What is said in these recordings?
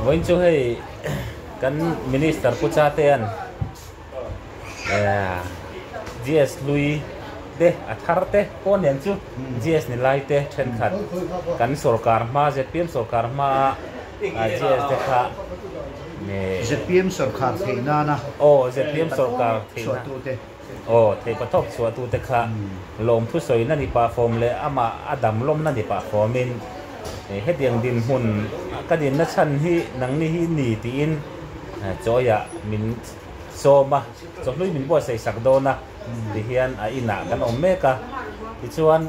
Vawiin chu hei kan Minister pucha te hian GS hlui te a thar te pawh nen chu GS ni lai te thenkhat kan sorkar hma zpm sorkar hma a GS te kha ZPM sorkar theih nana aww ZPM sorkar theih na chhuah tu te. Aw, theipa thawk chhuahtute kha lawmthu sawina ni pah khawm leh amah a dam lawmna ni pah khawmin hetiang dinhmun ka dinna chhan hi nangni hi ni tiin chawiah min sawm a, chawhlui min buatsaih sak dawn a ti hian a inah kan awm mek a. Tichuan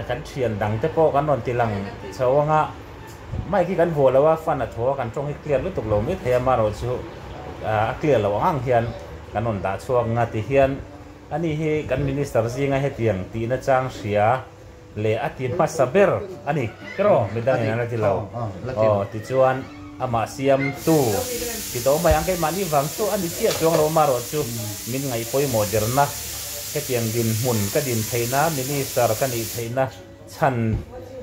kan thian dangte pawh kan rawn tilang chho ang a. Mic hi kan huah lo a, fan a thaw a, kan tawng hi clear lutuk lo mai thei a, maroh chu a clear lo ang ang hian kan rawn dah chhuak nga ti hian a ni hi kan Minister zinga hetiang tih na chang hria leh a ti hmasa ber a ni kiraw midang in an la ti lo aw ti chuan amah siam tu ti tawh mai ang keimah ni vang chu a ni chiah chuang lo maroh chu min ngaih pawimawh der na hetiang din hmun ka din theih na Minister ka nih theih na Chhan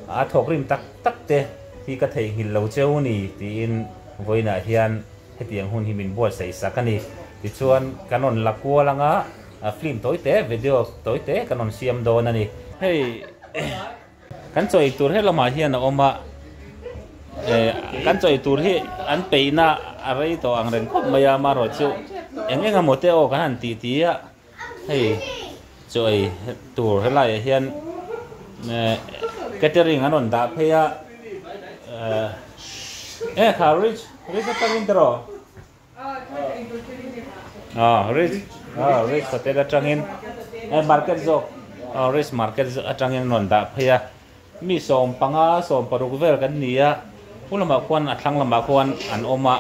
a thawk rim tak tak te hi ka theihnghilh lo cheu ni tiin vawiinah hian hetiang hun hi min buatsaih sak a ni. Tichuan kan rawn la kual ang a, film tawi te, video tawi te kan rawn siam dawn a ni. Hei kan chawi tur hi lamah hian a awm a, kan chawi tur hi an peihna a rei tawh ang reng khawp mai a, amaherawhchu eng eng emaw te aw kan han tihtia Hei chu ei tur helaiah hian catering an rawn dah phei a e kha rich rich a tangin tero a rich a rich hotel a tangin e market zawk rich market atangin an rawn dah phei a. Mi sawm panga sawm paruk vel kan ni a, pu lamah khuan a thlang lamah khuan an awm a,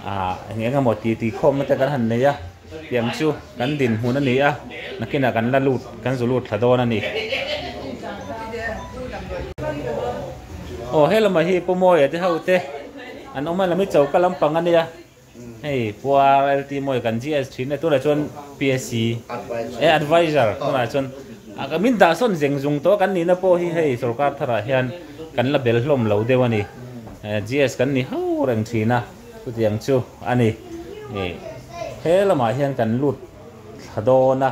ahh eng emaw titi khawmna te kan han nei a, tiang chu kan dinhmun a ni a, nakin ah kan la lut kan zu lut thla dawn a ni. Aw he lamah hi pu mawia te ho te an awm a, lam hi choka lampang a nia. Hei puar LT mawi kan GS thin e tunah chuan PSC e advisor tunah chuan ka min dah sawn zeng zung tawh kan nihna pawh hi hei sorkar tharah hian kan la bel hlawm lo deuh a ni GS kan ni ho reng thin a chutiang chu a ni he lamah hian kan lut thla dawn a.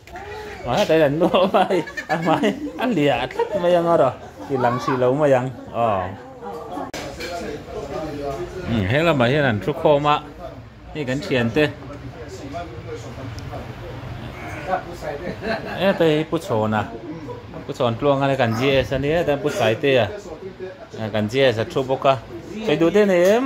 Hetaiin an nu ho mai a hmai a hliah tlat mai ang a raw ti lang si lo mai ang aw umm he lamah hian an thu khawm a hei kan thian te hetlai hi pu chhawn a pu chhawn tluang hi kan GS a ni a hetlai hi pu saiteia kan GS a thu bawk a sawi duh daih a ni em.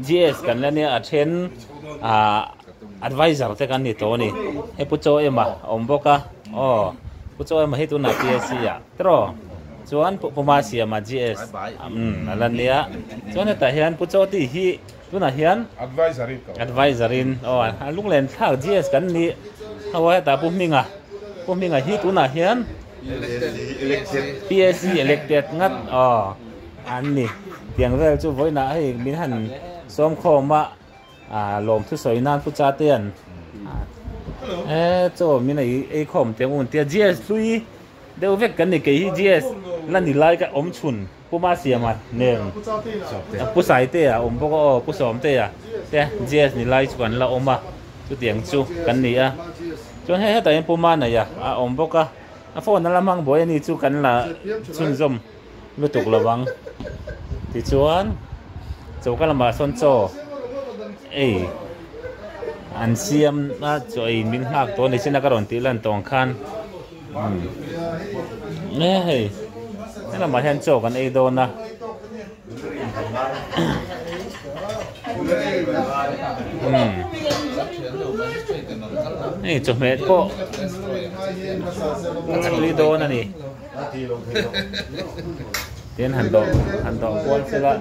GS kan la nia a then ahh advisor te kan ni tawh a ni he pu chaw ema a awm bawk a aw pu chaw ema hi tunah PSC ah tiraw chuan pu hma siam ah GS umm a la nia chuan hetah hian pu chaw tih hi tunah hian advisor in ka awm a advisor in aw a lunglenthlak GS kan nih ho a hetah pu hminga pu hminga hi tunah hian elected PSC elected ngat aw. An ni. Tiang vel chu vawiinah hei min han sawm khawm a, lawm thu sawi nan pucha te an e chaw min ei ei khawm tiang un tia GS hlui deuh vek kan ni kei hi GS la ni lai ka awm chhun puma siam a nen pu sai te a awm bawk a aw pu sawm te a te GS ni lai chu kan la awm a chu tiang chu kan ni a chuan he hetah hian puma neih a a awm bawk a a phone a la hmang buai a ni chu kan la chhunzawm lutuk lo vang. Tichuan choka lamah sawn chaw ei an siam a chaw ei min nghak tawh a ni sin a ka rawn tih lan tawng khan e hei helamah hian chaw kan ei dawn a hei chawhmeh pawh a tui dawn a ni. Tin han dawh han dawh kual se la.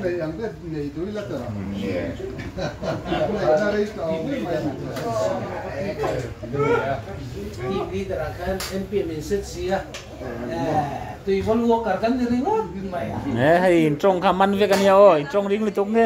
He hei in tawng kha man vek ania aw in tawng ring lutuk nge.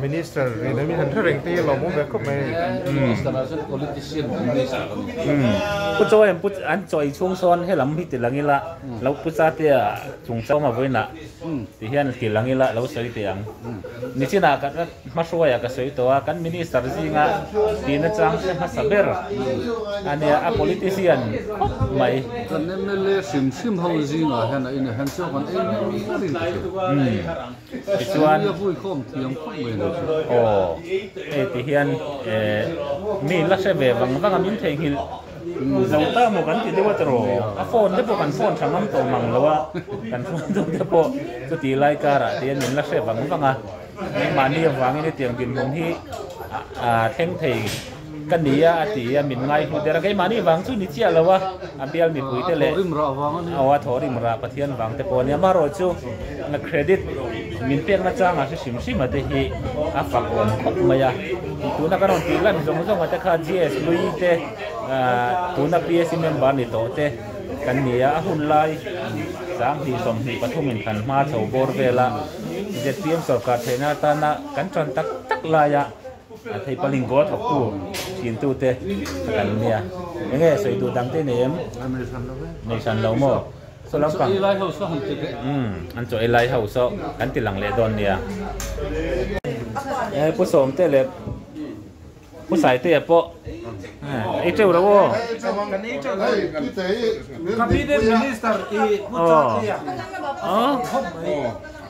Minister ri lem in han hre reng te hi an lo bawm ve khawp mai. Pu Chaw em an chawi chhung sawn he lam hi ti lang ila lo pu cha tia chung chau ma vawi na ti hian ti lang ila lo sawi teh ang. Nichin ah ka hmahruai ah ka sawi tawh a kan Minister zing a ti na chang te hmasa ber a nia a politician khawp mai. Kan MLA hrim hrim ho zing ah hian a in a hen chauh kan ei ber ber in ka ti. Tichuan aw hei ti hian eeh mi la hre ve vang vang a min theihnghilh zo ta maw kan ti deuh a tiraw a phone te pawh kan phone tha ngam tawh mang lo a kan phone deuh te pawh chuti lai karah te hian min la hre vang vang a kei mahni avangin hetiang dinhmun hi a thleng thei Ka ni a, a ti a, min ngaihmu der a, keimahni vang chu ni chiah lo a, a bial mipuite leh aw a thawhrim rah Pathian vang te pawh a ni. Amaherawh chu na credit min pekna changa hrisim hrima te hi a fak awm khawp mai a, tuna ka rawn tih lan zawng zawng a te kha GS Lui te, tuna PAC member ni tawh te kan ni a, a hun lai sang hnih sawmhnih pathum in kan hma chho bawr vel a, ZPM sawrkar theihna atana kan tan tak tak lai a, Hei paling bawr thawktu thintu te a kan nia. Enge sawi duh dang te nei em? Nei hran lo maw? Saw lampang an chaw elai ho saw kan ti lang leh dawn nia. Pu Sawmte leh Pu Saite ah pawh ei teuh lo aw. Cabinet minister i Pu Chakliah.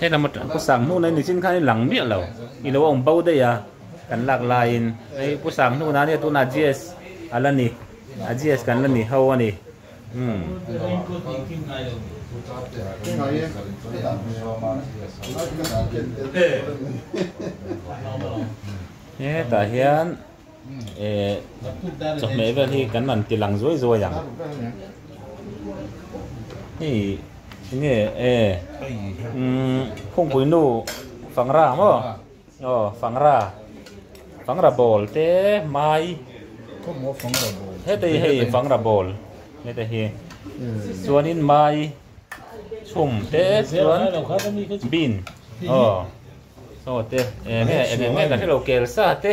Helama pu sang hnuna in nichin khan i lang miah lo i lo awm bo daih a kan lak laiin hei pu sang hnuna ania tuna GS a la ni a GS kan la ni ho a ni umm he tah hian Ehh chawhmeh vel hi kan rawn ti lang zuai zuai ang. Hei nge ehh umm Khawngpui nu Fangra ang maw? Aw Fangra, Fangra Bawl te Mai hetei hei Fangra Bawl nge te hi. Chuanin Mai chhum te chuan Bin aw aw te eng nge eng eng nge kan hrelo kel sa te.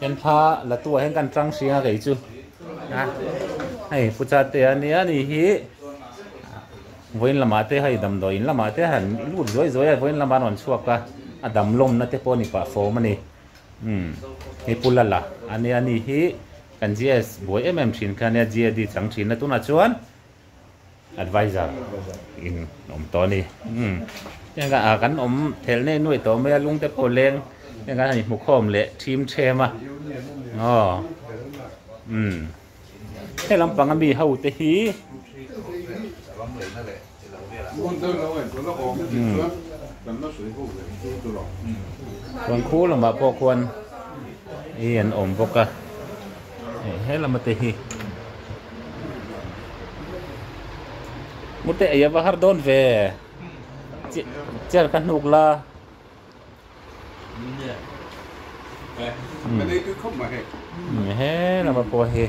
Enpha Latu-ah hian ka an tang hring a kei chu. Hei Puchate a nia ni hi vawiin lamah te hei damdawi in lamah te han lut zuai zuai a vawiin lama rawn chhuak a, a dam lawmna te pawh a ni pah fawm a ni. Hei Pu Lala a nia ni hi kan GS buai em em thin kha a nia GAD chang thinna tunah chuan Advisor in awm tawh a ni. Umm engah ah kan awm thel nei nuai tawh mai a, lungte pawh leng heng kan inhmu khawm leh thim ṭhem a aw umm helam panga mi ho te hi umm khuan khu lamah pawh khuan hi an awm bawk a. Hei he lama te hi. Mute aya va har don ve. Chair ka hnuk la. Ka dei tu khop ma he. He lama pawh hi.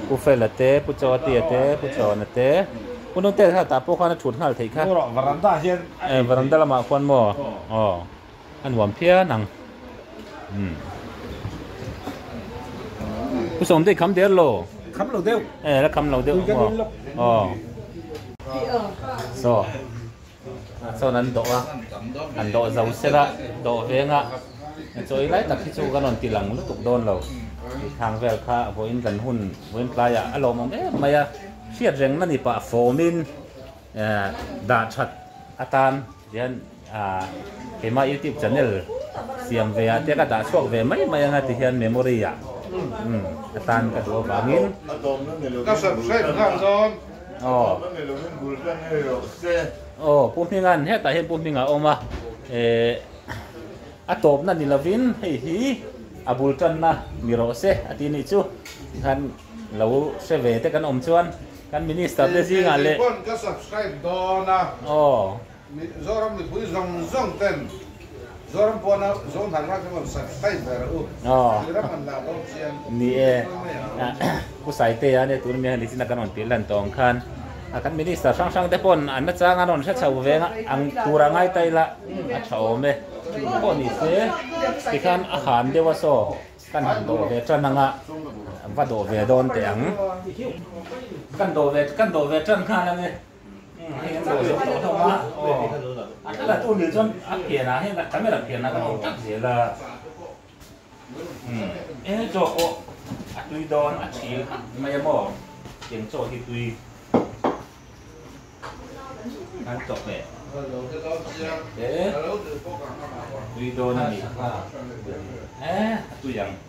Pu Fel a te, Pu Chawati a te, Pu Chawn a te. Pu Nungte kha tah pawh khan a thut nghal theih kha. Varanda hian. Varanda lamah khuan maw. Aw. A nuam phian ang umm Pu Sawmdei kham der lo. Kham lo deuh. Eh ala kham lo deuh ang maw. Aw. Saw. Sawn an dawh a, an dawh zo sel a, dawh veng a chawi lai tak hi chu ka rawn ti lang lutuk dawn lo. Thang vel kha a vawiin kan hun vawiin tlai ah a lawmawm em mai a, hriat reng nani pah fawm in dah that atan tihian. Aaa keimah youtube channel siam ve ah te ka dah chhuak ve mai mai anga tihian memory ah umm a tan ka duh avangin ka subscribe nghal dawn aw aw pu hminga'n hetah hian pu hming a awm a eeh a tawpna ni lovin hei hi a bul tanna ni rawh se a ti anih chu tikhan lo hre ve te kan awm chuan kan minister te zingah leh aw. Zoram mipui zawng zawng ten Zoram puana Zo hnar rak rawn sak phai ber a u. Tui rak rawn la bawk chian ni e. Pu Saiteia nia tun miang hi nichina kan rawn pilh dan tawh ang khan a kan minister hrang hrang te pawn an achang an rawn hre chho veng a ang tur a ngai ta ila a tha awm e pawh ni se tikhan a han deuh a saw kan han dawh ve tan ang a va dawh ve dawn teh ang kan dawh ve tan khan ang e. Tui dawn a nih kha. Eeh a tui ang.